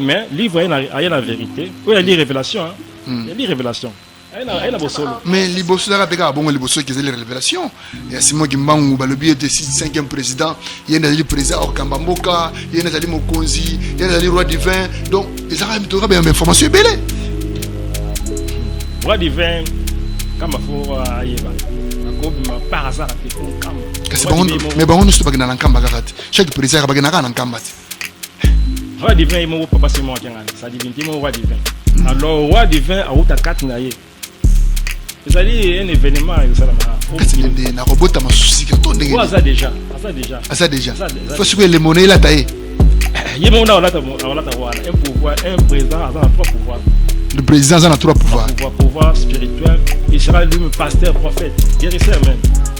mais livre aye na vérité oyo ali révélation yali hmm. révélation aye na bosolo mais liboso ezalaka mpe kaka bongo liboso eke ezali révélation ya simon kimbangu balobi ete cinquième président ye nde azali président akokamba mboka ye nde azali mokonzi ye nde azali roi divin donc ezalaka mitoka baya information ebele roi divin kamba fo ayeba akobima par hasard ate nkamba kasi bango mais bango nyonso bakenda na nkamba kaka te chaque président bakenda kaka na nkamba te roi divin ye moko papa simo akengana sa divinité moko roi divin alors roi divin awuta kati na ye ezali un événement ezosalama kati na nde nakobota masusi to ndenge aza déjà aza déjà aza déjà fo sikoyo elemona elata ye ye moko na olata olata wana un pouvoir un président aza na trois pouvoir le président aza na trois pouvoir pouvoir pouvoir spirituel il sera lui-même pasteur prophète guérisseur même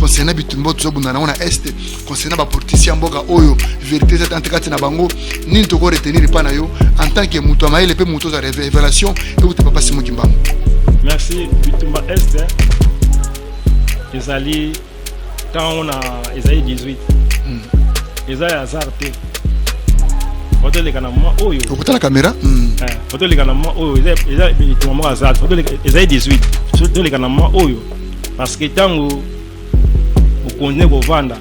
concernant bitumba oyo tozobunda nango na este concernant bapolitisi ya mboka oyo verité eza tante kati na bango nini toko retenir epai na yo en tant que moto ya mayele mpe moto oza révélation euta papa simo kimbangu merci bitumba este ezali ntango na ezali 18 hmm. eza ya hasard te otoleka na mwa oyo okotala kamera hmm. eh, otoleka na mwa oyo eza bitumba moko hasard ezali 18 toleka na mwa oyo parce que ntango mokonzi ne kovanda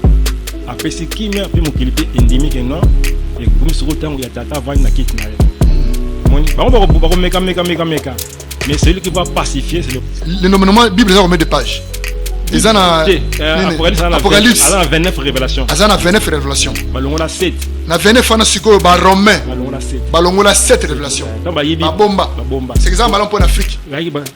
apesi kimia mpe mokili mpe endimi ke non ekomi soko ntango ya tata avandi na kiti na ye moni bango bakomeka meka meka meka mais celui qui va pacifier c'est le le nommenement bible eza combien de pages eza na apocalypse aza na 29 révélation aza na 29 révélation balongola 7 na 29 wana sikoyo baromain balongola 7 révélation babomba seke eza malamu mpo na afrique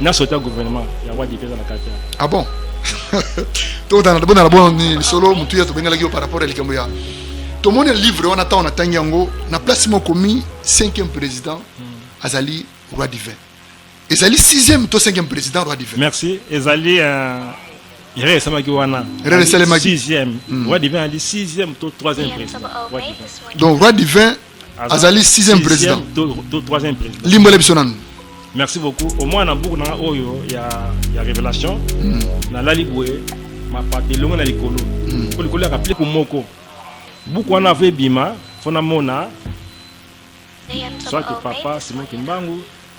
na sota gouvernement ya wadi mpe eza na kati ah bon tokotana bona na bona nini lisolo motu ya tobengelaki yo par rapport ya likambo ya tomoni livre wana ntango natangi yango na place moko komi cinquième président hmm. azali roi divin ezali sixième to cinquième président roi divin merci ezali euh, erreur esalemaki wana erreur esalemaki sixième hmm. roi divin ali sixième to troisième président donc roi divin azali sixième président to troisième président limbola biso nanu merci beaucoup au moins na buku nanga oyo ya, ya révélation mm. nalali boye mapata elongo na likolo mm. po likolo yaka pleku moko buku wana avo ebima mpo namona soit papa simon kimbangu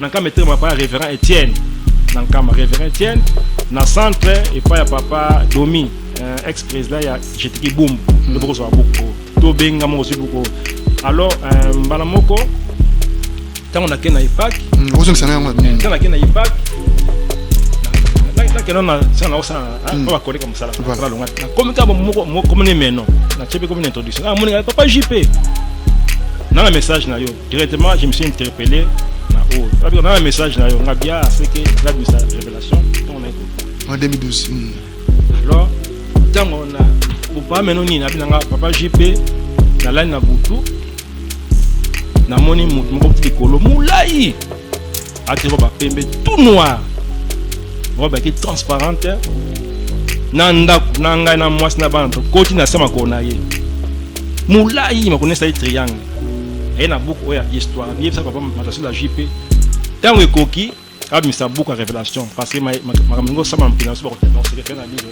na nkama etelema epai ya révérend etienne na nkama révérend etienne na centre epai ya papa domi euh, ex président ya jetiki bumbu nde bokozwa buku tobenga moko ozwi buku alors euh, mbala moko ntango nake na epak okozongisa na yango ntango nake na epak nakenda na sena naosala oyo bakoleka mosala balonga nakomi kaka mokomoni meno natyebi komi na introduction amoninga papa jp na na message na yo Directement, je me suis interpellé na oyo. Parce que dans le message na yo, nga bien c'est que la misa révélation on a écouté. En 2012. Hmm. Alors, tant on a ou pas mais non ni na binanga papa JP na la na butu na moni mutu moko likolo mulai ati robe ya pembe tout noir robe yaki transparente na ndako na ngai na mwasi na bana tokoti na se makolo na ye molai makolo esali triangle aye na buku oyo ya histoire yebisa papa matasio la jp ntango ekoki abimisa buku ya révélation parce que makambo yango osama mpina so bakotekonsekepena bino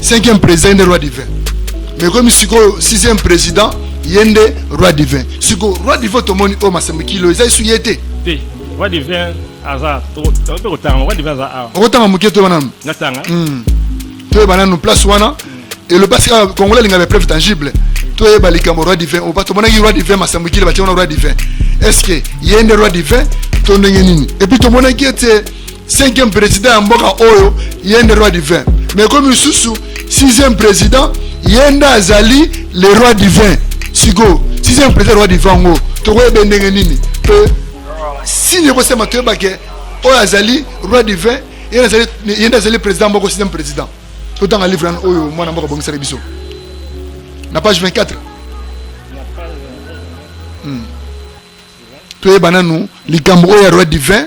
cinquième président nde roi divin mais komi sikoyo sixième président ye nde roi divin sikoyo roi divin tomoni oyo masembo kilo eza esu ye te te roi divin aza tokotanga roi divin aza awa okotanga moke toyeba nanu natanga hmm. toyeba nanu place wana eloba sika congolais alinga bapreuve tangible toyeba likambo roi divin oba tomonaki roi divin masembo kilo batie wana roi divin est ce que ye nde roi divin to ndenge nini epuis tomonaki ete cinquième président ya mboka oyo ye nde roi divin mais ekomi lisusu sixième président ye nde azali le roi divin sikoyo sixième président roi divin yango tokoyebe ndenge nini mpe sini ekosema toyebake oyo azali roi divin ye nde azali président moko sixième président totanga livre wana oyo mwana mboka abongisaki biso na page 24 hmm. toyeba nanu likambo oyo ya roi divin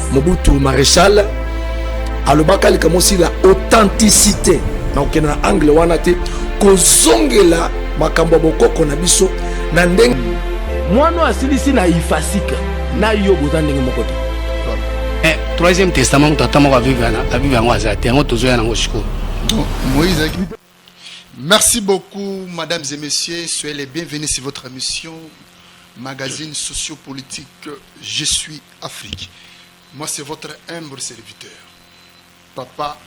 Mobutu Marechal alobaka likambo aussi la authenticité na kokende na angle wana te kozongela makambo ya bokoko na biso na ndenge mwana asilisi na ifasika na yo boza ndenge moko te eh, troisième testament moto ata moko avive yango aza te yango tozoya nango sikoyo Merci beaucoup, mesdames et messieurs. Soyez les bienvenus sur votre émission, magazine sociopolitique Je suis Afrique. Moi, c'est votre humble serviteur, Papa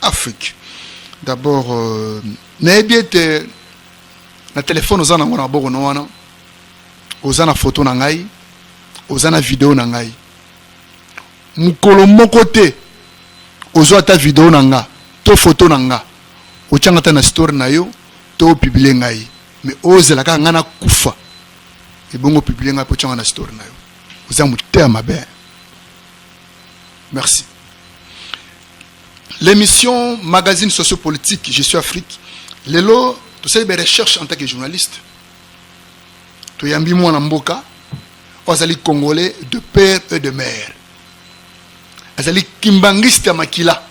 Afrique. D'abord, euh, bien que le téléphone aux anango na boko na wana, aux ana photo na ngai, aux ana vidéo na ngai. mokolo moko te ozwa ata video na nga to foto na nga otyanga ata na story na yo to opiblie ngai me ozela kaka ngai nakufa ebongo opiblie ngai mpo otyanga na story na yo oza motema mabe merci l'émission magazine sociopolitique je suis afrique lelo tosali ba recherche en tant que journaliste toyambi mwana mboka oyo azali congolais de père et de mère azali kimbangiste ya makila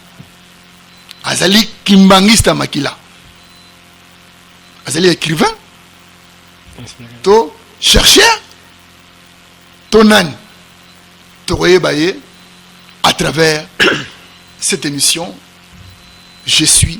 azali kimbangiste ya makila azali écrivain to chercheur to nani tokoyeba ye à travers cette émission je suis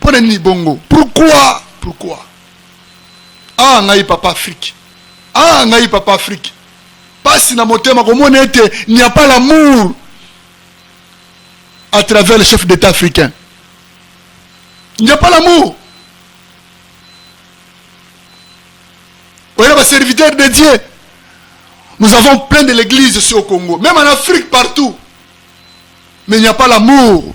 mpo na nini bongo pourquoi pourquoi ah ngai papa afrique ah ngai papa afrique pasi na motema komona ete n'y a pas l'amour à travers le chef d'état africain n'y a pas l'amour oyeba serviteur de dieu nous avons plein de l'église ici au congo même en afrique partout mais il n'y a pas l'amour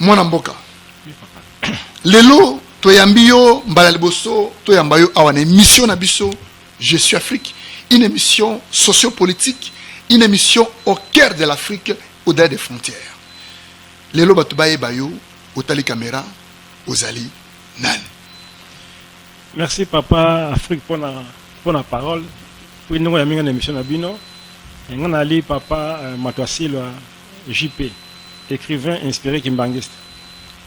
mwana mboka lelo toyambi yo mbala liboso toyamba yo awa na émission na biso je suis afrique une émission sociopolitique une émission au cœur de l'afrique au-delà des frontières lelo bato bayeba yo otali kamera ozali nani merci papa afrique mpona mpona parole mpo ndenge oyambi ngai na émission na bino ngai nali papa euh, mato asilwa JP, ecrivain inspire kimbanguiste,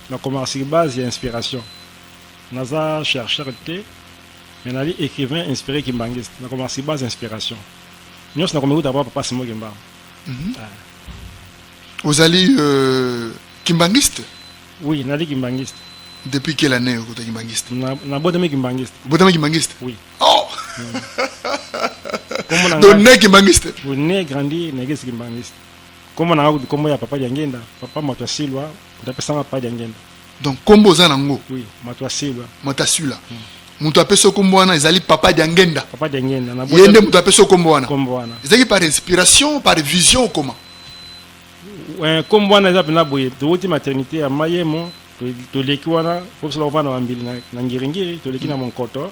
na komaka sur base ya inspiration. Naza chercheur te, mais nali ecrivain inspire kimbanguiste, na komaka sur base inspiration. Nyonso na komikuta pa papa Simon Kimbangu. Mm -hmm. ah. Ozali euh, kimbanguiste? Oui, nali kimbanguiste. Depuis quelle année okota kimbanguiste? Na, na botami kimbanguiste. Botami kimbanguiste? Oui. Oh! Mm. Donc, né kimbanguiste? Oui, né grandi, né kimbanguiste. Kombo na ngai kombo ya papa Diangenda, papa moto asilwa, moto apesanga papa Diangenda. Donc kombo oza nango? Oui, moto asilwa. Moto asilwa. Hmm. Moto apesa kombo wana ezali papa Diangenda. Papa Diangenda na Ye nde moto apesa kombo wana. Kombo wana. Ezali par inspiration, par vision comment? Euh, kombo wana eza pena boye, towuti maternité ya Mayemo, toleki wana, po sala wana na mbili na ngiringiri, toleki na hmm. Monkoto.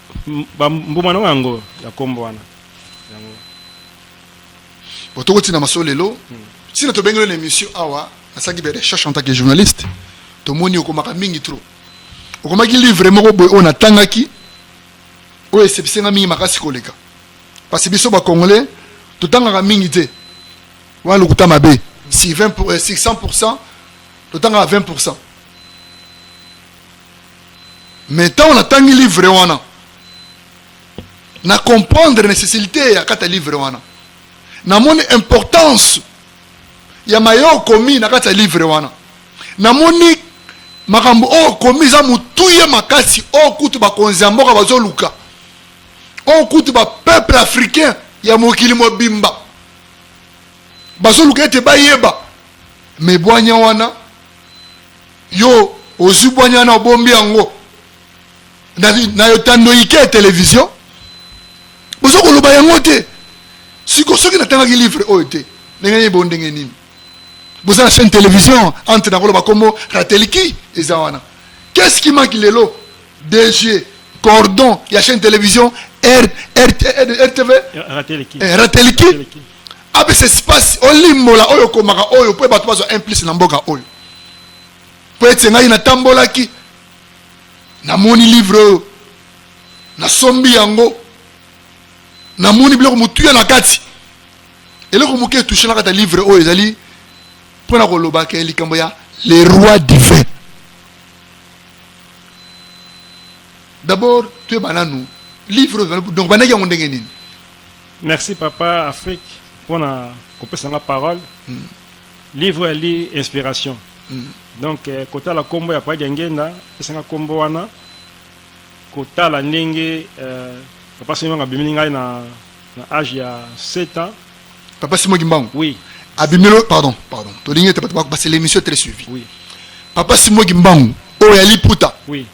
mbuma nango yango ya nkombo wana yango bo tokotina masolo lelo hmm. ntina tobengeli na émission awa nasalaki ba recherche en tant que journaliste tomoni okomaka mingi trop okomaki livre moko boye oyo natangaki oyo esepise nga mingi makasi koleka parce biso bacongolais totangaka mingi te wana lokuta mabe si 20 pour, 600 euh, totangaka 20 pourcent mais ntango natangi livre wana na comprendre necessite ya kati ya livre wana namoni importance ya maye okomi na kati ya livre wana namoni makambo oyo okomi eza motuya makasi oyo kutu bakonzi ya mboka bazoluka oyo kutu bapeuple africain ya mokili mobimba bazoluka ete bayeba mebwanya wana Yo ozwi bwanya wana obombi yango na, na yotando ike ya televizio boza koloba yango te siko soki natangaki livre oyo te ndenge nini bo ndenge nini boza na chaîne télévision entre nakoloba nkombo rateliki eza wana qu'est-ce qui manque lelo dg cordon ya chaîne télévision rtv rateliki apesa espace olimbola oyo okomaka oyo mpo bato bazwa implice na mboka oyo mpo ete ngai natambolaki namoni livre oyo nasombi yango namoni biloko motuya na kati eloko moke etushe na kati ya livre oyo ezali mpo na kolobaka likambo ya le roi divin d'abord toyeba nanu livre donc bandaki yango ndenge nini Merci papa Afrique pona kopesa nga parole. Mm. Livre ya li inspiration. Mm. Donc eh, kotala kombo ya Padi Ngenda pesa nga kombo wana kotala ndenge eh, papa Simo nga bimini ngai na na âge ya 7 ans. Papa Simo Gimbangu. Oui. Abimelo pardon pardon. Tolingi te papa c'est l'émission très suivie. Oui. Papa Simo Gimbangu oyo ya liputa. Oui.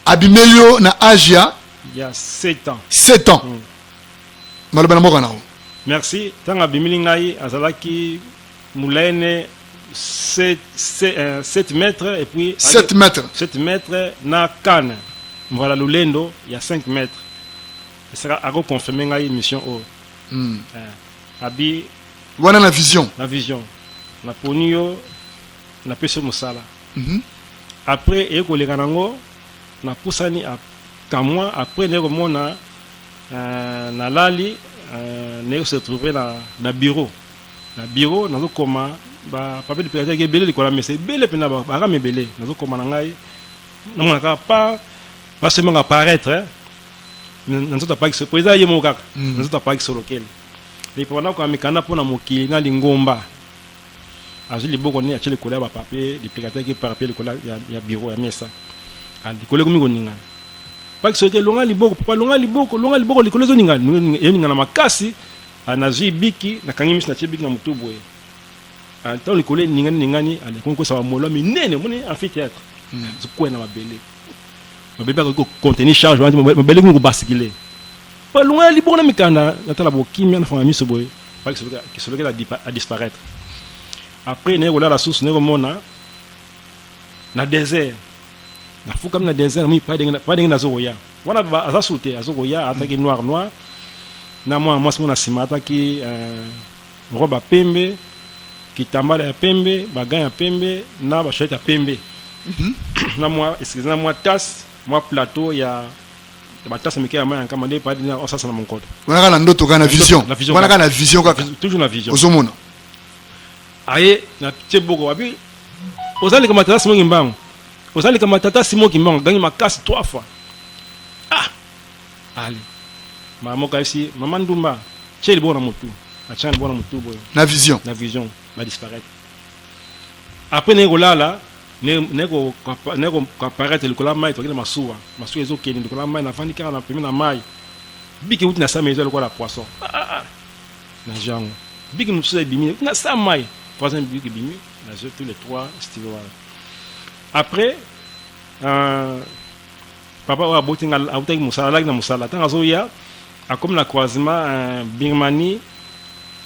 Abimelo na âge ya ya 7 ans. 7 ans. Mm. maloba na mboka na yo merci ntango abimili ngai azalaki mulaine 7, 7, euh, 7 mètres et puis 7 mètres 7 mètres na kane mvala lolendo ya 5 mètres esaka akoconfirme ngai mission oyo oh. mm. eh, abi wana na vision na vision naponi yo napesi yo mosala mm -hmm. après eye koleka nango napusani akamwa après naye komona Euh, nalali euh, naye se trouver na, na bureau na bureau nazokoma bapapier dipilatiaki ebele likolo ya mesa ebele mpenza bakama ebele nazokoma na ngai namonaka pa basemaka apparaître na nzoto apaki solo mpo eza ye moko kaka na nzoto apaki solo kele epona koma mikanda mpo na mokili na lingomba azwi liboko nde atye likolo ya bapapier lipekataki papier likolo ya biro ya mesa likolo ekomi koningana paki soki elonga liboko papa longa liboko longa liboko likolo ezoningana eningana makasi nazwi biki nakangi miso natye biki na motu boye ntango likolo eningani ningani alikomi kosa bamolwa minene omoni amphithéâtre hmm. zokweya na mabele mabele akoki kocontenir charge wana mabele ekomi kobasikile Balunga ya libongo na mikanda na tala bokimia na fanga miso boye kisolokela a disparaître après naye kolala susu naye komona na désert nafukami na désert namoni pa ndenge nazo koya wana aza su te azo koya ataki noir noir na mwana mwasi mona nsima ataki euh, robe ya pembe kitambala ya pembe bagan ya pembe na bashete ya pembe mhm. na mwa excuse na mwa tasse mwa plateau ya batasa mike ya mai ya nkama nde epai dina osasa na monkoto wana kaka na ndoto kaka na vision wana kaka na vision kaka toujours na vision ozomona aye na tie boko wapi ozalika matata simo kimbangu ozalika matata simo kimbangu gangi makasi trois fois ah ali mama moko ayebisi mama ndumba tie liboko na motu atya liboko na motu boye na vision na vision badisparaître après naye kolala Nako apparaître likolo ya mayi, tokende masuwa, masuwa ezo kende likolo ya mayi, na vandi kaka na pembeni na mayi. Biki ewuti na sa mayi eza lokola poisson. Ah ah ah. Na zwi yango. Biki mosusu ebimi na sa mayi. Troisième biki ebimi, na zwi tous les trois stylo wana. Après, euh, papa oyo aboti nga awutaki mosala, alaki na mosala. Tango azo ya, akomi na croisement euh, Birmanie,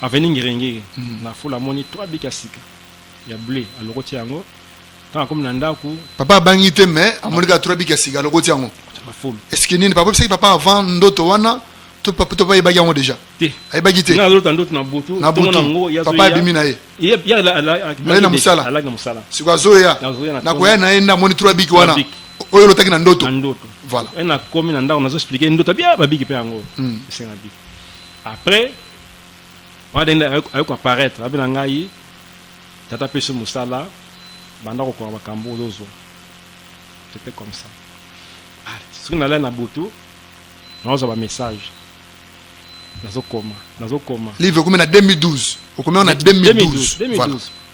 avenue Ngirengiri. Mm. Na fula amoni trois biki ya sika. ya bleu alokoti yango ntango akomi na ndako papa abangi te mais amoni kaka turabi ya sika alokoti yango bafulu eske nini papa bisaki papa avant ndoto wana to papa to papa ebaki yango déjà te ayebaki te na lota ndoto na butu na butu nango ya papa abimi na ye ye ya la la la na musala ala na musala siko azoya na koya na ye nda moni trois biki wana oyo lotaki na ndoto na ndoto voilà et na komi na ndako nazo expliquer ndoto bia babiki pe yango hmm. esenga biki après wana dende aye koaparaitre abela ngai tata apesi mosala banda kokoka makambo ozozwa c'était comme ça ah, soki nalai na butu nazwa bamessage nazokoma nazokoma livre ekomi na 2012 okomi na 2012 voilà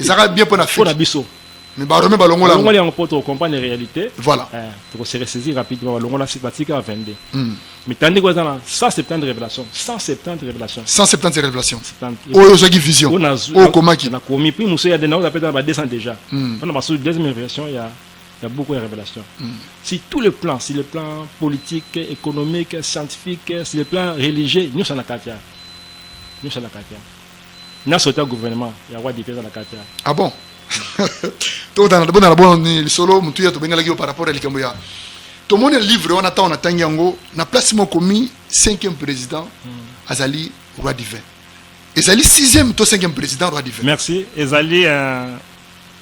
ezalaka bien mpo na fo na biso mais barome balongola balongoli yango mpo tocomprendre réalité voilà eh, tokose ressaisir rapidement balongola site batika ya 22 hmm. mitandiko eza na 170 révélation 170 révélation 170 révélation oyo ozwaki vision oyo okomaki nakomi puis mosusu ya dena oza mpe ba 200 déjà hmm. mpona basusu deuxième révélation ya Il y a beaucoup de révélations. Mm. Si tous les plans, si les plans politiques, économiques, scientifiques, si les plans religieux, nous sommes à Katia. Nous sommes à Katia. na sota gouvernement ya roi dipe eza na kati ya ah bon tobonana bono ni lisolo motuya tobengelaki yo par rapport ya likambo ya tomoni livre wana ntango natangi yango na place moko komi cinquième président hmm. azali roi divin ezali sixième to cinquième président roi divin merci ezali euh,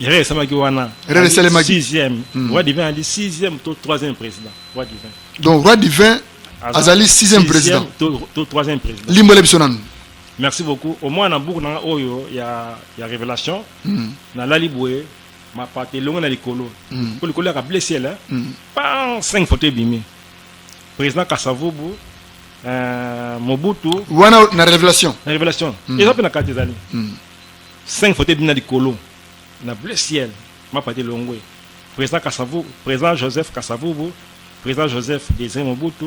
erreur esalemaki wana erreur esalemaki sixième hmm. roi divin ali sixième to troisième président roi divin donc roi divin azali sixième président to troisième président limbola biso nanu Merci beaucoup. Au moins na buku na oyo ya ya révélation. Mm. Na lali boye mapata elongo na likolo. Mm. Ko likolo ya bleu ciel. Mm. Pan 5 photo ebimi. Président Kasavubu euh, Mobutu wana na révélation. Na révélation. Mm. Eza pe na kati ezali. Mm. 5 photo ebimi na likolo na bleu ciel mapata elongo. Président Kasavubu, président Joseph Kasavubu, président Joseph Désiré Mobutu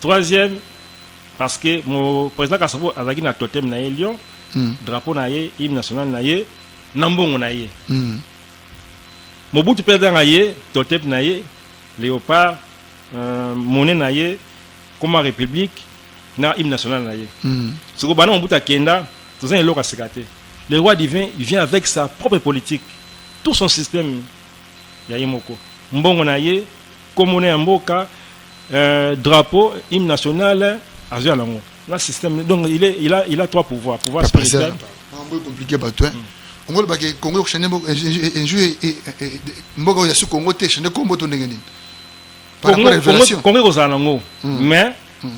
Troisième, parce que mon président Kasobo azalaki na totem na ye Lyon, mm. drapeau na ye, hymne national na ye, na mbongo na ye. Mm. Mobutu mpe azanga ye totem na ye, léopard, euh, monnaie na ye, comme république, na hymne national na ye. Mm. Soko bana Mobutu akenda, toza eloko aseka te. Le roi divin, il vient avec sa propre politique, tout son système ya ye moko mbongo na ye kombo na ya mboka euh, drapeau hymne national azo ya nango na système donc il est il a il a trois pouvoirs pouvoir spirituel mambo compliqué bato hein mm. ongolo bake congo kushende mboka enjou eh, eh, eh, mboka oyo ya su congo te shende kombo to ndenge nini congo ekozala nango mm. mais mm.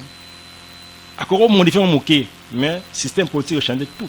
akoki komodifie ngo moke mais système politique echande tout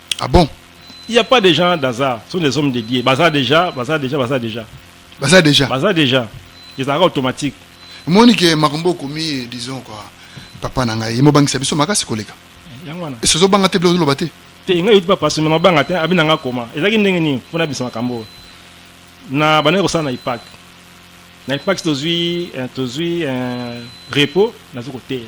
Ah bon Il n'y a pas de gens d'hasard. Ce sont des hommes dédiés. Baza déjà, baza déjà, baza déjà. Baza déjà. Baza déjà. Ils sont automatiques. Moni que Makumbo komi disons quoi. Papa nanga il mo bangisa biso makasi koleka. Yango wana. Esozo banga te bilo loba te. Te ngai yut papa sima banga te abina nga koma. Ezaki ndenge nini pona biso makambo. Na bana ko sana na ipak. Na ipak tozui eh, tozui eh, repos na zuko teya.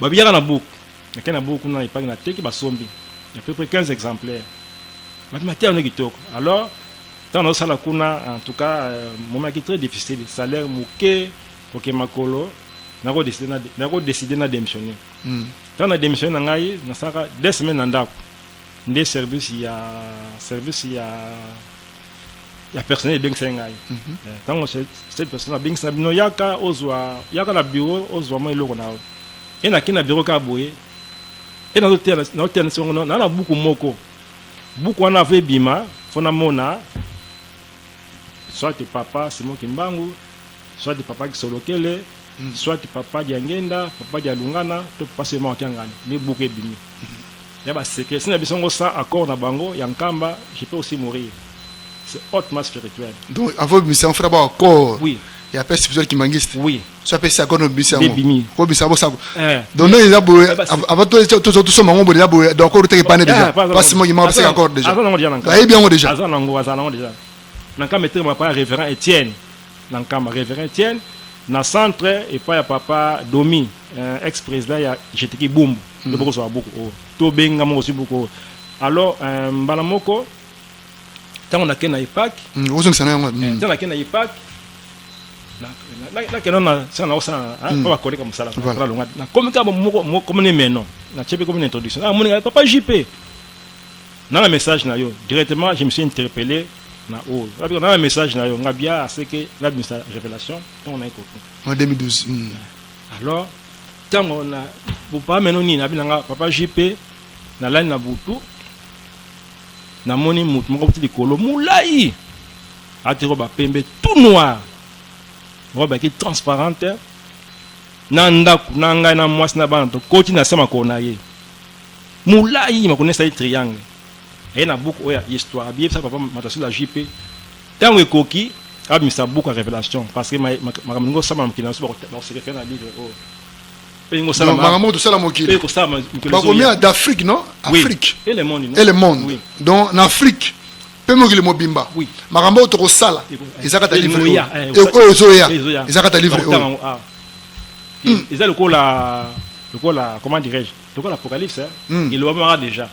babiyaka na buku nake na buku kuna epangi na teki basombi ya peu près 15 exemplaires babi mateya wana kitoko alors ntango nazosala kuna en tout cas euh, momaki très difficile salaire moke koke makolo nakodeside na démissionner hmm. ntango na démissionne na ngai nasalaka deux semaine na ndako nde service ya service ya ya personnel ebengisaki ngai ntango mhm. eh, cette personne abengisa bino yaka ozwa yaka na bureau ozwa mwa eloko na yo e nakei na bureau kaka boye e nazoteya na songo naa na buku moko buku wana avo ebima mpo namona soit papa simon kimbangu soit papa kisolokele soit papa diangenda papa dialungana to papa sema wakiangani nde buku ebimi ya ba secret sina biso ngo sans accord na bango ya nkamba je peux aussi mourir c'est hautement spirituel donc avant bimisa fera ba accord oui ya père spirituel kimangiste oui so apesi accord no bimisa yango bimi ko bisa bo sako eh. donc non eza boye avant to to to soma ngo boye boye donc accord teke pane déjà eh, parce moi il m'a passé accord déjà aza nango déjà nango ayebi yango déjà aza nango aza nango déjà na nkamba etre ma pa révérend Étienne na nkamba reverend tiel na centre epai ya papa domi euh, ex président ya jetiki bumbu nde mm. bokozwa buku oyo tobenga mokozwi buku oyo alors euh, mbala moko ntango nake na epak mm, ozongisa na yango ntango mm. nake na epak nakenda na sika na osala oyo bakoleka mosala nalonga nakomi kaka mokomi ne meno natie mpe komi na introduction namoningaka papa jp nanga message na yo directement je me suis interpellé na oyo abika na message na yo nga bia aseke nga bimisa révélation ntango naye koki en 2012 mm. alors ntango na bopaa meno nini abi na nga papa jp nalali na butu namoni motu moko kuti likolo molai ati roba pembe tout noir roba yaki transparente na ndako na ngai na mwasi na bana tokoti na se makolo na ye molai makolo na esali triangle aye na buku oyo ya histoire abiyebisa papa matasila jp ntango ekoki abimisa buku ya révélation parce que makambo lingi osala mokili na biso bakosekefela na livre oyo mpe lingi osala makambo oyo tosala mokili mpe kosala mokili bakomia d'afrique non afrique et le monde et le monde donc na afrique mpe mokili mobimba makambo oyo tokosala eza kata livre oyo eh, ezoya eza kata livre oyo eza lokola lokola comment dirais-je tokola apocalypse hein? mm. elobamaka deja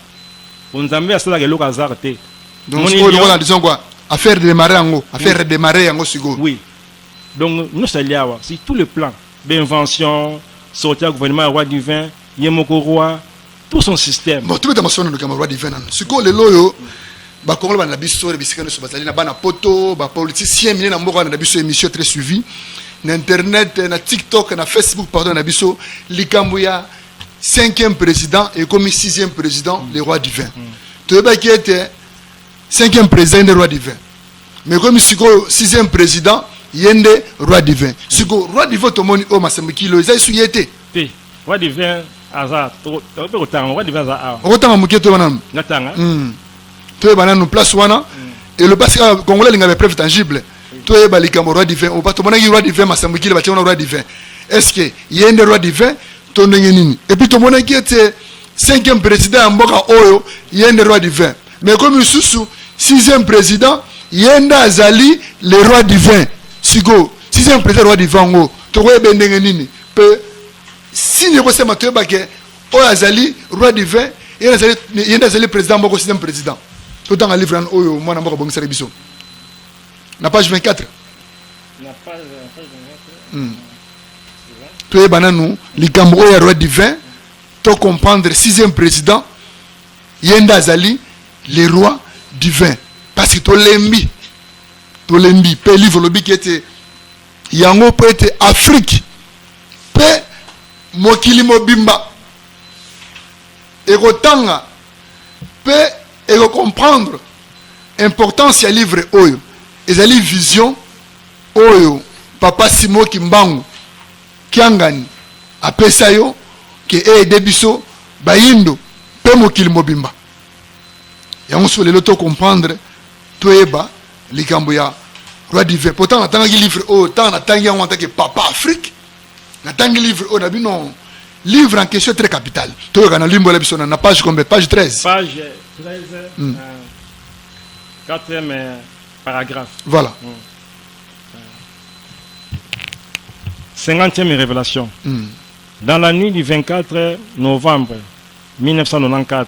po nzambe asalaka eloko hasard te donc sikoyo lokola disons quoi affaire démarrer yango affaire oui. démarrer yango sikoyo oui donc nyonso ali awa si tout le plan d'invention sorti ya gouvernement ya roi divin ye moko roi tout son système bon tobeta masolo na lokama roi divin nano sikoyo lelo oyo bakongolo bana na biso na bisika nyonso bazali na bana poto bapoliticien mine na mboka wana na biso émission très suivi na internet na tiktok na facebook pardon na biso likambo ya cinquième président ekomi sixième président le roi divin toyebaki ete cinquième président nde roi divin mais ekomi sikoyo sixième président ye nde roi divin sikoyo roi divin tomoni oyo masembo kilo eza esu ye te te roi divin aza tokope kotanga roi divin aza awa okotanga moke to wana natanga toyeba nanu place wana elobasi kaka congolais alinga ba preuve tangible toyeba likambo roi divin oyo bato monaki roi divin masambo ekile batie wana roi divin est ce que ye nde roi divin to ndenge nini epuis tomonaki ete cinquième président ya mboka oyo ye nde roi divin mais komi lisusu sixième président ye nde azali le roi divin sikoyo sixième président roi divin yango tokoyeba ndenge nini mpe sini ekosema toyeba ke oyo azali roi divin ye nde azali président moko sixième président totanga livre oyo mwana mboka abongisaki biso na page 24 hmm. toyeba nanu likambo oyo ya roi divin to comprendre sixième président ye nde azali le roi divin parce que tolembi tolembi mpe livre olobiki ete yango mpo ete afrike mpe mokili mobimba ekotanga mpe ekokomprendre Importance ya livre oyo ezali vision oyo papa Simon Kimbangu Kiangani apesa yo ke eede biso bayindo mpe mokili mobimba. Yango so lelo to comprendre toyeba likambo ya roi divin. Pourtant natangaki livre oyo ntango natangi yango antake papa Afrique natangi livre oyo na bino livre en question très capital toyoka na limbola biso na page combien page 13 page 13 mm. euh, quatrième euh, paragraphe voilà mm. euh, cinquantième révélation mm. dans la nuit du 24 novembre 1994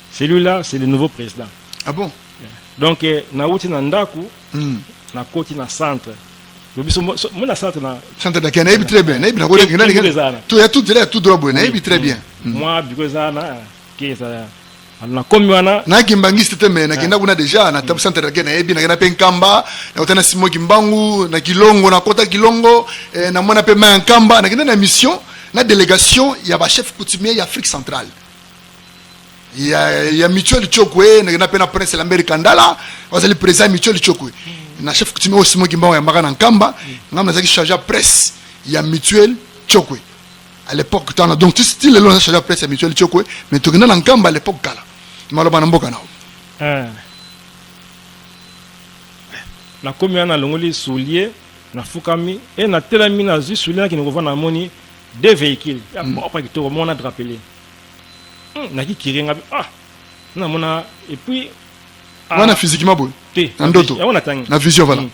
celui là c'est le nouveau président ah bon donc eh, nauti na ndako mm. nakoti na centre biso mona centre na centre dakea nayebi très bien nayebi nakotoya tout zela ya tout droit boye nayebi très bien hmm. mwa biko eza na keza nakomi wana nakimbangiste te me nakenda ah. kuna deja na tabu hmm. centre dakea nayebi nakenda mpe nkamba nakota na simo kimbangu na kilongo nakota kilongo eh, namona mpe mai ya nkamba nakenda na mission na délégation ya bachef coutumier ya afrique centrale ya, ya micho lichokwe nakenda mpe na prince lambert kandala bazali président ya micho lichokwe na chef coutumier oyo simo kimbango yambaka na nkamba ngai nazalaki charge ya presse ya mutuel chokwe à l'époque tana donc ti lelo naza charge ya presse ya mutuel chokwe mais tokenda na nkamba à l'époque kala maloba na mboka nao eh. nakomi wana nalongoli soulier nafukami e natelami nazwi soulier nakende kovanda namoni deux véhicules ya propre kitoko mona drapele Hmm, na ki kire nga ah na mona et puis ah, wana physiquement boye te na ndoto yango na tangi na vision voilà mm.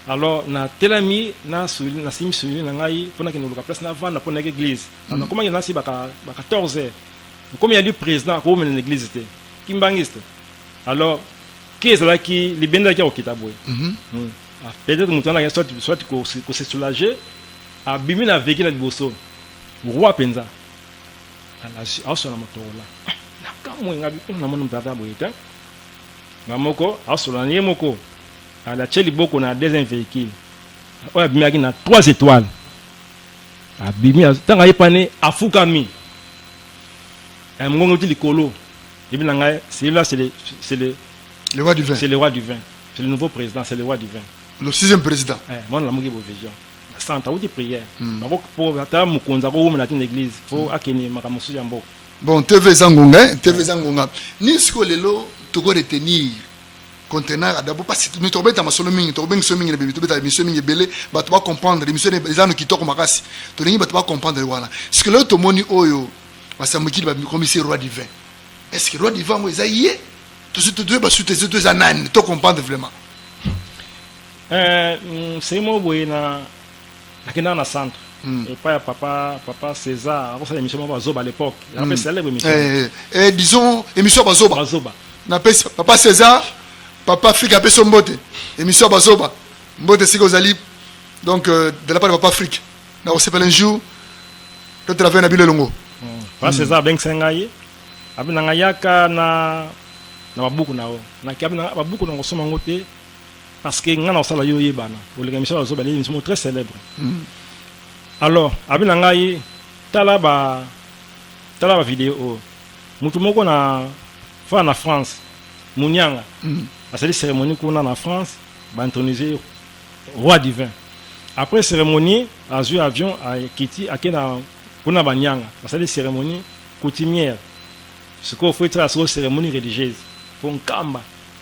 alors na telami na suli na simi suli na ngai pona ke noluka place na vanda pona ke église mm. na komaki na si baka ba 14 heures komi ya li président ko mena l'église te kimbangiste alors ke ezalaki libende ya kokita boye mm -hmm. mm. Ah, peut-être moto wana soit soit ko se soulager abimi na veki na liboso roi penza alasi aosala motokola nakamwe nga bikolo na moni mpata boye te nga moko aosolola na ye moko alatie liboko na deuxième véhicule oyo abimaki na trois étoiles abimi ntango ayepani afukami eh, mongongo ti likolo ebi na ngai celui-là c'est le, c'est le, le roi du vin c'est le roi du vin c'est le nouveau président c'est le roi du vin le sixième président eh, mwana lamuki bovision centre auti prière hmm. bango po ata mokonzi akowumela te na église po hmm. akende makambo mosusu ya mboka bon tv eza ngonga eh? tv eza ngonga nini sikoyo lelo toko retenir conteneur adabo mpasi mi tokobeta masolo mingi tokobengi so mingi na bebi tobeta emission mingi ebele bato bacomprendre emission eza no kitoko makasi tolingi bato bacomprendre wana sike lelo tomoni oyo basambukili bakomisi roi divin est ce que roi divin yango eza ye tosi toyeba sute eza nani tocomprendre vraiment Eh, mm, se moko boye na nakendaka na centre Mm. epai ya papa papa césar akosala émission moko bazoba à l'époque yango mpe célèbre émission Eh, eh, eh, disons émission ya bazoba bazoba napesi papa césar papa afrique apesi yo mbote émission ya bazoba mbote esika ozali donc euh, de la part de papa afrique nakosepela un jour totela vere na bino elongo papa césar abengisa ngai abi na ngai yaka na na babuku na yo naki abi na ngai, babuku na kosoma yango te parce que nga na osala yo yebana oleka misala zo bale mismo très célèbre mm. alors abi na ngai tala ba tala ba vidéo oyo mutu moko na fa na France munyanga mm. asali cérémonie kuna na France ba intronisé roi divin après cérémonie azwi avion akiti ake na kuna banyanga basali cérémonie coutumière sikoyo fo etala sikoyo cérémonie religieuse mpo nkamba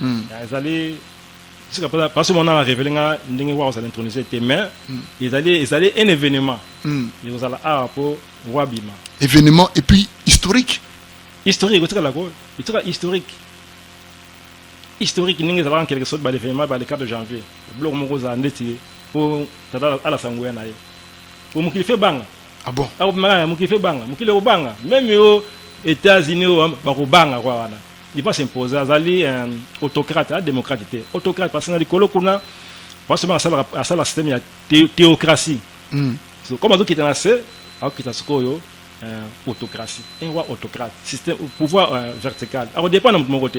mm. ah, ezali tika mposa parce mona na révélé nga ndenge wa kozala intronisé te mais mm. ezali ezali un événement mm. ekozala awa mpo wa bima événement et puis historique historique otikala ko etika historique historique ndenge ezalaka nkeleke soki balévénement ba le 4 janvier biloko moko ozala ndeti mpo tata alasa nguya na ye mpo mokili fe banga ah bon akobimaka ah, mokili fe banga mokili ekobanga meme yo états-unis oyo bakobanga kwa wana il va s'imposer azali un autocrate a démocrate te autocrate parce que na likolo kuna basoma asala asala système ya théocratie mm. so, comme azokita na se akokita sikoyo euh, autocratie un roi autocrate système pouvoir euh, vertical akodépendre na moto moko te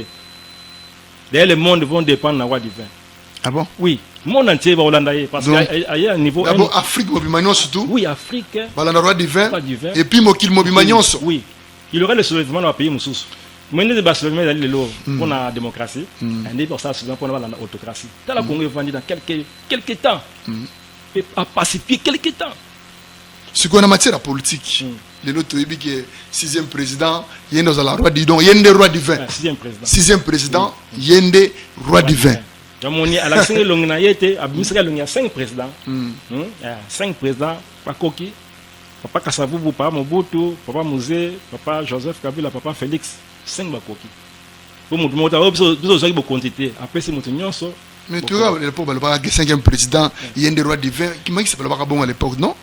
d'ailleurs le monde vont dépendre na roi divin ah bon oui monde entier bakolanda ye parce que aye ya niveau d'abord afrique mobima nyonso tout oui afrique balanda roi divin et puis mokili mobima nyonso oui Il y aura le soulèvement dans pays mususu. Mais nde ba soulèvement ezali lelo hmm. mpo na démocratie hmm. nde basala soulèvement mpo na balanda autocratie tala hmm. congo evandi dans quelque, quelque temps pe apacifie quelque temps sikoyo na matière ya politique lelo toyebi ke sixième président ye nde ozala roi didon ye nde roi divin ah, sixième président ye nde roi divin yamoni alakisaki elongi na ye te abimisaki elongi ya cinq président cinq président bakoki Papa Kasavubu, Papa Mobutu, Papa Muze, Papa Joseph Kabila, Papa Felix, 5 bakoki. Po mutu moko ta, oh, biso biso zaki bokonzi te, apesi mutu nyonso Mais tu vois, à l'époque, balobaka que cinquième président, il y a un des rois divins, qui m'a dit que balobaka bongo à l'époque, non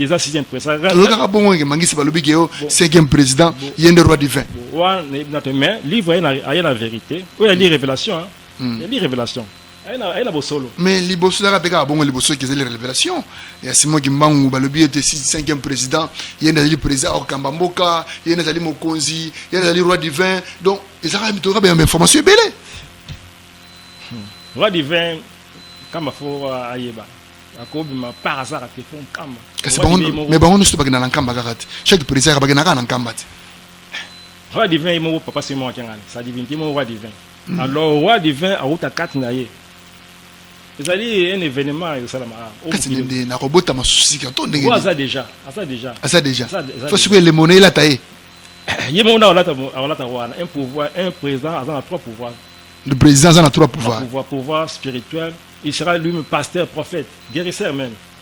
eza sixième président tolokaka bongo ke mangisi balobi ke yo cinquième président ye nde roi divin wana nayebi na te mais livre aye na vérité oyo ali révélation ali hmm. révélation mais liboso ezalaka mpe kaka bongo liboso eke ezali révélation ya simon kimbangu balobi ete cinquième président ye nde azali président akokamba mboka ye nde azali mokonzi ye nde azali roi divin donc ezalaka mitoka ba information ebele hmm. roi divin kama fo ayeba akobima par hasard ate fo nkamba kasi mais bango nyonso bakenda na nkamba kaka te chaque président bakenda kaka na nkamba te roi divin ye moko papa simon akengani sa divinité moko roi divin Mm. Alors roi du vin awuta kati na ye ezali un événement esalama kati nende nakobota masusika to ndenge aza déjà aza déjà aza déjà fo sikoyo elembo na elata ye ye moko nde akolata wana un pouvoir un président aza na trois pouvoir le président aza na trois pouvoir pouvoir spirituel il sera lui-même pasteur prophète guérisseur même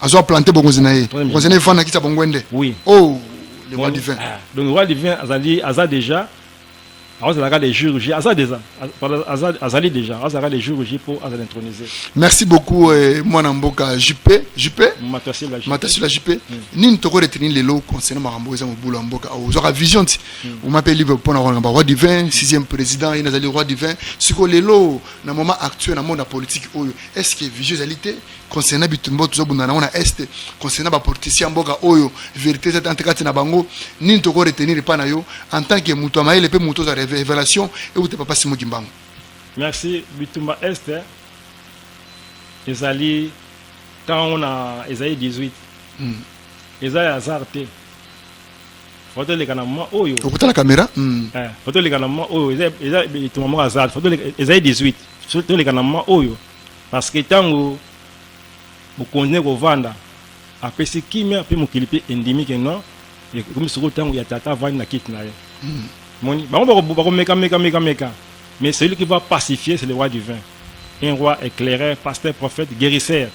azo aplante bokonzi na ye bokonzi na ye efanda kisa bongwende oui. oh, le roi divin ah. donc roi divin azali aza déjà azalaka le jour j aza déjà azali déjà azalaka le jour j mpo azala intronisé merci beaucoup eh, mwana mboka jupe jupe matasila jupe hmm. nini toko reteni lelo concernant makambo eza mobulu ya mboka ozwaka vision ti oma mpe libre mpo na kolanga ba roi divin sixième président ye nazali roi divin sikoyo lelo na moment actuel na monde ya politique oyo est ce que vision ezali te concernant bitumba tozobunda nango na est concernant bapoliticien ya mboka oyo verité eza tante kati na bango nini toko retenir epai na yo en tant que moto ya mayele mpe moto oza révélation euta papa simo kimbangu merci bitumba est ezali ntango na ezali 18 mm. eza ya hasard te fotoleka na mwa oyo okotala kamera mm. eh, fotoleka na mwa oyo eza bitumba moko hasard ezali 18 toleka na mwa oyo Parce que tango mokonzi ne kovanda apesi kimia mpe mokili mpe endimi ke non ekomi soko ntango ya tata avandi na kiti na ye hmm. moni bango bakomeka meka meka meka mais celui qui va pacifier c'est le roi divin un roi éclaireur pasteur prophète guérisseur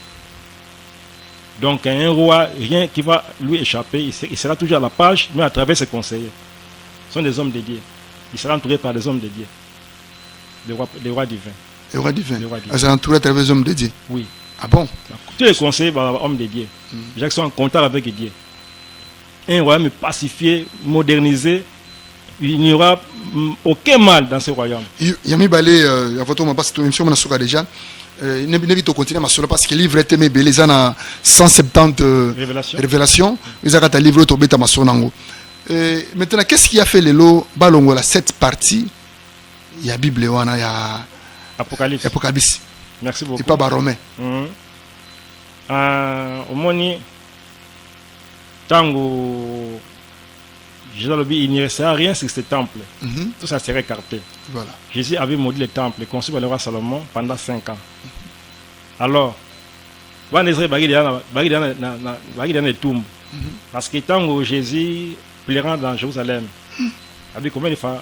donc un roi rien qui va lui échapper il sera toujours à la page mais à travers ses conseillers ce sont des hommes de Dieu il sera entouré par des hommes de Dieu le roi, le roi divin le roi divin azala entouré à travers hommes de Dieu oui ah bon tous les conseillers ba hommes de Dieu mm. Jacques sont en contact avec Dieu un royaume pacifié modernisé il n'y aura mm, aucun mal dans ce royaume il y a mis balé euh, à votre moment parce que émission on a souka déjà euh, nebi tokontinue masolo parce que livre eteme ebele eza na 170 euh, révélation eza kata livre oyo tobeta masolo nango maintenant qu'est ce qui a fait lelo balongola cette partie ya bible wana ya apocalypse apocalypse merci beaucoup epa barome mm -hmm. uh, omoni ntango Jésus a dit, il n'y restera rien sur ce temple. Mm -hmm. Tout ça serait écarté. Voilà. Jésus avait maudit le temple conçu par le roi Salomon pendant 5 ans. Alors, wana ezali bakili na etumbu parce que ntango jésus plairant dans jérusalem abi combien de fois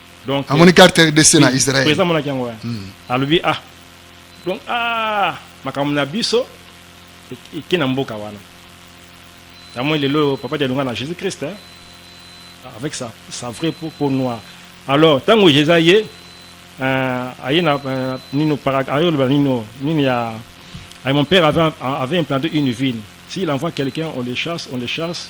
donc amoni carte rdc na israel président monaki yango wana hmm. alobi ah donc ah makambo na biso eke na mboka wana yamoi lelo papa dialonga na jésus christ hein? avec sa, sa vraie peau, peau noire alors ntango jésus aye euh, aye na euh, nino ayoloba nino nini ya mon père avait, avait implanté une ville s'il envoie quelqu'un on le chasse on le chasse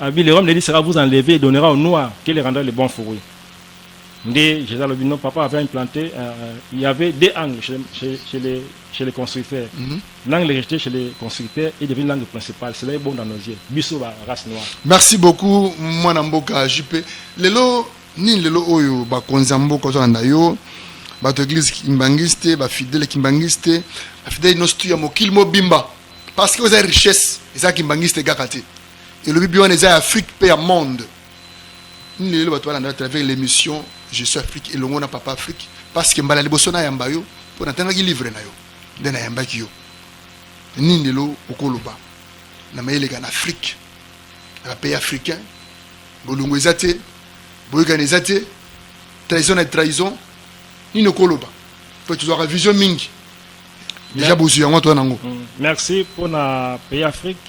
Abi, le royaume de Dieu sera vous enlever et donnera au noir qui le rendra le bon fruit. Nde Jésus alobi non, papa avait implanté, euh, il y avait deux angles chez, chez, chez, les, chez les constructeurs. Mm -hmm. L'angle rejeté chez les constructeurs est devenu l'angle principal. Cela est bon dans nos yeux. Biso ba race noire. Merci beaucoup, mwana mboka JP. Lelo nini lelo oyo bakonzi ya mboka ozolanda yo bato ya eglise kimbanguiste bafidele kimbanguiste bafidele nyonso tu ya mokili mobimba parce que oza richesse eza kimbangiste kaka te elobi bi wana eza ya afrique mpe ya monde nini lelo bato balanda à travers l'émission je suis afrique elongo na papa afrique parce que mbala liboso nayamba yo mpo natangaki livre na yo nde nayambaki yo nini lelo okoloba na mayeleka na afrique na bapays africain bolongo eza te boyokani eza te trahison na trahison nini okoloba mpo tozwaka vision mingi deja bozwi yango toya nango mm. merci mpo na pays afrique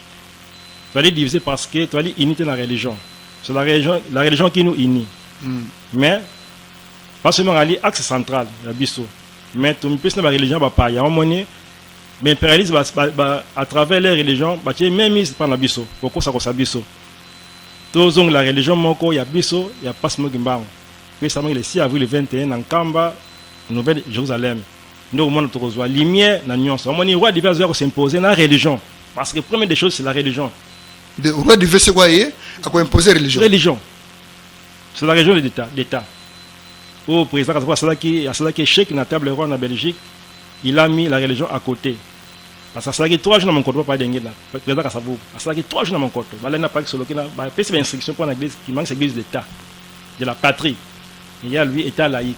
toali divise parce que toali unité na religion c'est la religion, la religion qui nous unit mm. mais pas seulement ali axe central ya biso mais tomipesi na bareligion bapaya yango moni baimpérialiste à travers les religions batie meme mise mpa na biso kokosakosa biso tozongela religion moko ya biso ya mpasi moki mbango mpe esalamaki le 6 avril 21 na nkamba nouvelle jérusalem nde okomona tokozwa lumière na nyonso. Omoni roi divin azoya ko s'imposer na religion parce que premier des choses c'est la religion. De roi divin c'est quoi ye ako imposer religion. Religion. C'est la religion de l'État, d'État. Au président Kazawa asalaki asalaki échec na table roi na Belgique, il a mis la religion à côté. Parce que asalaki 3 jours na monkoto papa denge na président Kasavu. Asalaki 3 jours na monkoto. Balenda paki soloki na ba pesi ba instruction pour na église, il manque l'église d'État de la patrie. Et il y a lui état laïque.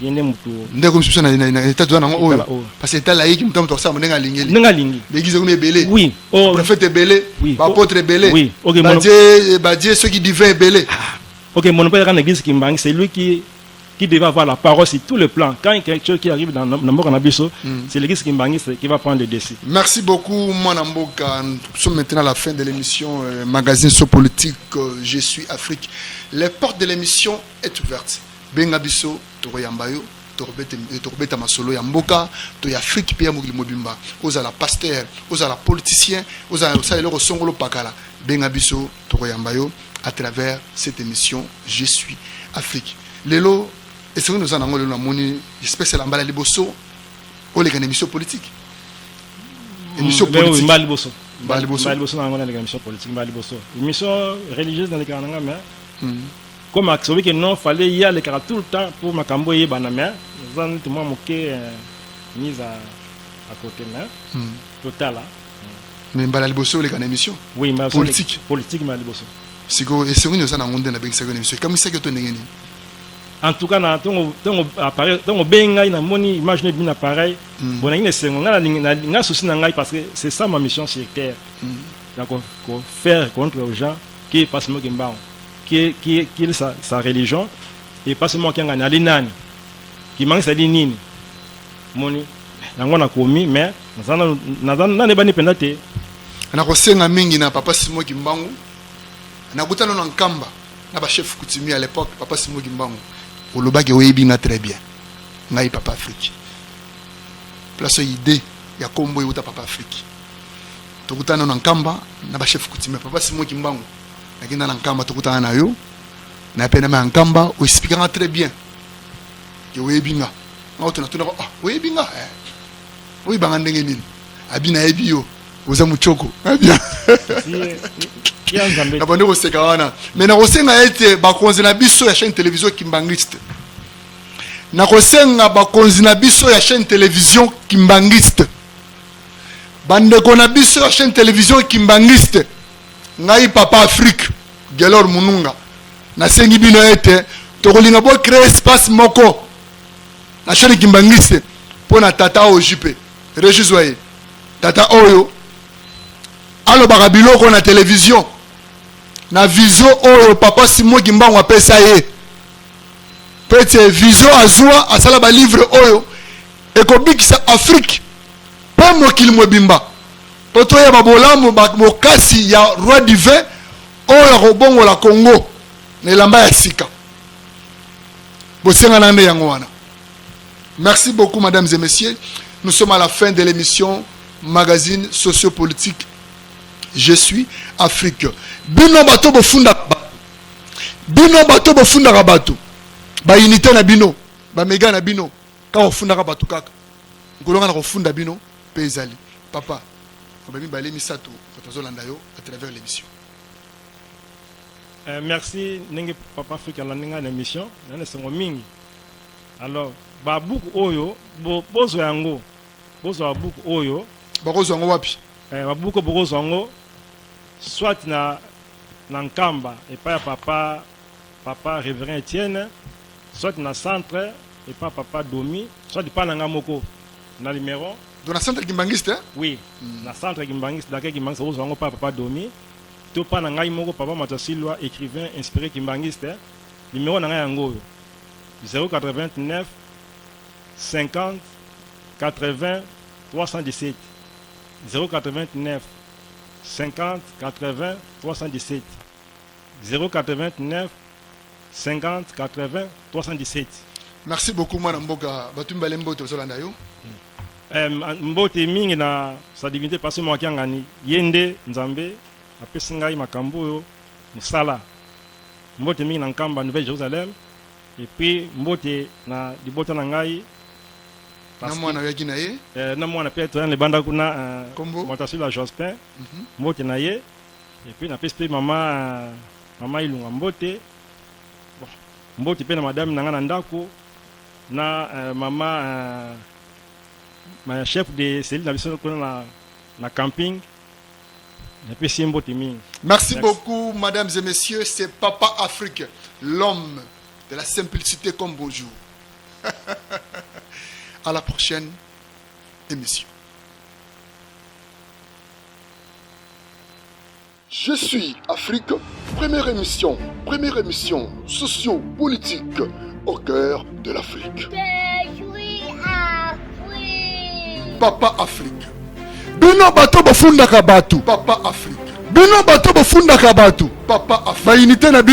yende mutu ndeko misusu na na etat toza nango oyo parce etat laïque mutu mutu akosala ndenge alingeli ndenge alingi l'église kuna ebele oui oh prophète ebele oui ba apôtre ebele oui ok ba dieu ba dieu ceux qui divin ebele ah, ok mon père quand l'église qui manque c'est lui qui qui devait avoir la parole sur tous les plans. Quand quelque chose qui arrive dans Namboka Nabiso, mm. c'est l'église Kimbanguiste qui va prendre le dessus. Merci beaucoup, moi Namboka. Nous sommes maintenant à la fin de l'émission euh, Magazine sur politique, euh, Je suis Afrique. Les portes de l'émission est ouverte. Benga biso tokoyamba yo tokobeta eh, tokobeta masolo ya mboka to ya Afrique mpe ya mokili mobimba. Ozala pasteur, ozala politicien, ozala osala eloko songolo pakala, benga biso tokoyamba yo à travers cette émission Je suis Afrique. Lelo esengo noza nango lelo namoni espèce elamba la liboso oleka na émission politique. Mm, émission politique. Mbali boso. Mbali boso. Mbali boso na ngona leka émission politique mbali boso. Émission religieuse na leka na ngama. Mm. Comme asobi que non fallait ye alekaka tout le temps pour makambo eyebana mais eza neti mwa moke mise à, à côté mais hmm. totala mais mbala liboso oleka na émission oui, mbala politique politique mbala liboso sikoyo esengo nini oza na yango nde nabengisaki na émission ekamisaki yo to ndenge nini en tout cas na tongo tongo appareil tongo be ngai na moni image ne bina pareil hmm. bon na ngine sengo nga na nga souci na ngai parce que c'est ça ma mission sur terre hmm. donc ko faire contre aux gens qui passent mo kimbango qui qui qui sa, sa religion et pas seulement kiangani ali nani kimangisa ali nini moni yango nakomi mais nanebani mpenza te nakosenga mingi na papa simo kimbangu nakutana na nkamba na bachef coutumier à l'époque papa simo kimbangu olobaki oyebi nga très bien ngai papa afrique place oyo idée ya kombo euta papa afrique tokutana na nkamba na bachef coutumier papa simo kimbangu nakenda na nkamba tokutana na yo na penama ya nkamba oexplika nga très bien ke oyebi nga nga oto natuna ah, oyebi nga eh. oyeba nga ndenge nini abi nayebi yo oza motshoko abia na bande koseka wana me nakosenga ete bakonzi na biso ya chaîne télévision kimbanguiste nakosenga bakonzi na biso ya chaîne télévision kimbanguiste bandeko na biso ya chaîne télévision kimbanguiste Ngai Papa Afrique Gelor Mununga nasengi bino ete tokolinga bo créer espace moko na chaine Kimbanguiste mpo na tata oyo jupe rejizwa ye tata oyo alobaka biloko na televizio na vizio oyo papa Simon Kimbangu apesa ye mpo ete vizio azwa asala balivre oyo ekobikisa Afrique mpe mokili mobimba Mpo toyeba bolamu bokasi ya roi divin oyo akobongola Congo na elamba ya sika, bosengana nde yango wana. Merci beaucoup, mesdames et messieurs. Nous sommes à la fin de l'émission magazine sociopolitique Je suis Afrique. Bino bato bofunda bino bato bofundaka bato ba unité na bino ba mega na bino kaka ofundaka bato kaka nkolonga na kofunda bino pe ezali papa ba mibale misato bato bazolanda yo à travers l'émission Euh, merci ndenge papa afrika alandi ngai na émission na na esengo mingi alors babuku oyo bo- bozwa yango bozwa babuku oyo bakozwa yango wapi eh, babuku oyo bokozwa yango soit na, na nkamba epai ya papa Papa Reverend Etienne, soit na centre epa papa Domi, soit epa na nga moko na numero. Donc na centre Kimbanguiste? Hein? Oui, mm. na centre Kimbanguiste, d'accord Kimbanguiste, ozwa yango pa papa Domi, to pa na ngai moko papa Matasilwa, écrivain inspiré Kimbanguiste, numero na ngai yango oyo 089 50 80 317 089 50 80 317 089 Merci beaucoup mwana mboka batu mibale mbote tozolanda yo. Eh, mbote mingi na sa divinité Pasteur Mwakiangani ye nde Nzambe apesi ngai makambo oyo mosala. Mbote mingi na Nkamba Nouvelle Jerusalem et puis mbote na libota na ngai na mwana oyaki na ye eh, na mwana mpe toyana libanda kuna eh, moto asila jospin mhm. mbote na ye Et puis napesi pe mama mama Ilunga mbote. Bon, mbote pe na madame na nga na ndako na euh, mama euh, ma chef de cellule na biso kuna na na camping. Napesi ye mbote mingi. Merci beaucoup, mesdames et messieurs. C'est Papa Afrique, l'homme de la simplicité comme bonjour. à la prochaine émission. Je suis Afrique, première émission, première émission socio-politique au cœur de l'Afrique. Papa Afrique. Bino bato bofundaka bato. Papa Afrique. Bino bato bofundaka bato. Papa Afrique. Ba unité na bino